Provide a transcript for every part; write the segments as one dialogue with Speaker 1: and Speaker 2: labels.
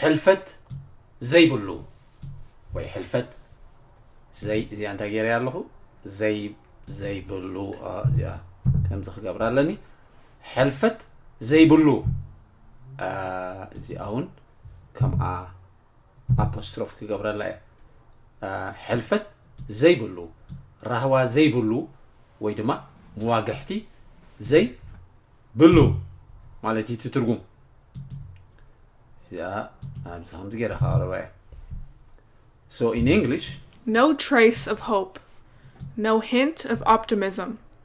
Speaker 1: ሕልፈት ዘይብሉ ወይ ሕልፈት ዘይ እዚኣ እንታይ ገይረ ኣለኹ ዘይ ዘይብሉ እዚኣ ከምዚ ክገብራ ኣለኒ ሕልፈት ዘይብሉ እዚኣ እውን ከምኣ ኣፖስትሮፍ ክገብረላ እየ ሕልፈት ዘይብሉ ራህዋ ዘይብሉ ወይ ድማ መዋግሕቲ ዘይብሉ ማለት እዩ ትርጉም እዚኣ ኣብዚ ከምዚ ገይረ ከቕርባ እየ so in english no trace
Speaker 2: of hope no hint of optimism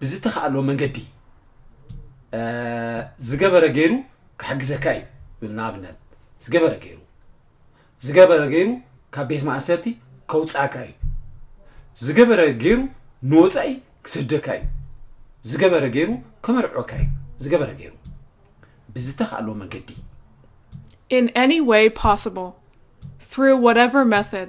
Speaker 1: ብዝተኸኣሎ መንገዲ ዝገበረ ገይሩ ክሕግዘካ እዩ ብል ንኣብነት ዝገበረ ገይሩ ዝገበረ ገይሩ ካብ ቤት ማእሰርቲ ከውፃእካ እዩ ዝገበረ ገይሩ ንወፃኢ ክሰደካ እዩ ዝገበረ ገይሩ ከመርዖካ እዩ ዝገበረ ገይሩ ብዝተኸኣሎ መንገዲ in
Speaker 2: any way possible through whatever method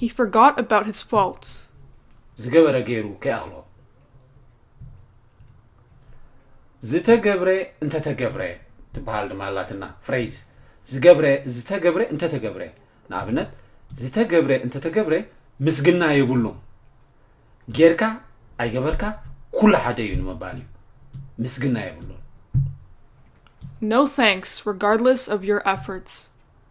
Speaker 2: He forgot about his faults. ዝገበረ
Speaker 1: ገይሩ ከይኣኽሎ ዝተገብረ እንተተገብረ ትበሃል ድማ ኣላትና ፍሬዝ ዝገብረ ዝተገብረ እንተተገብረ ንኣብነት ዝተገብረ እንተተገብረ ምስግና የብሉም ጌርካ ኣይገበርካ ኩሉ ሓደ እዩ ንምባል እዩ ምስግና የብሉም
Speaker 2: No thanks regardless of your efforts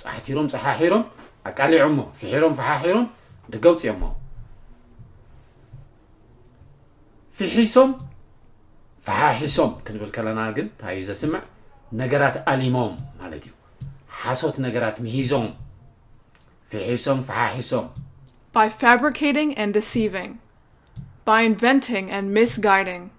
Speaker 1: ጻሕቲሮም ጸሓሒሮም ኣቃሊዖሞ ፍሒሮም ፈሓሒሮም ደገ ኣውፅኦሞ ፍሒሶም ፈሓሒሶም ክንብል ከለና ግን እንታይ እዩ ዘስምዕ ነገራት ኣሊሞም ማለት እዩ ሓሶት ነገራት ምሂዞም ፍሒሶም ፈሓሒሶም By
Speaker 2: fabricating and deceiving, by inventing and misguiding,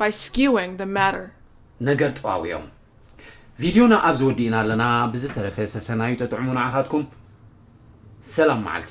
Speaker 2: by skewing the matter። ነገር ጠዋውዮም
Speaker 1: ቪድዮና ኣብዚ ወዲእና ኣለና ብዝተረፈ ሰሰናዩ ጠጥዕሙ ንዓኻትኩም ሰላም መዓልቲ።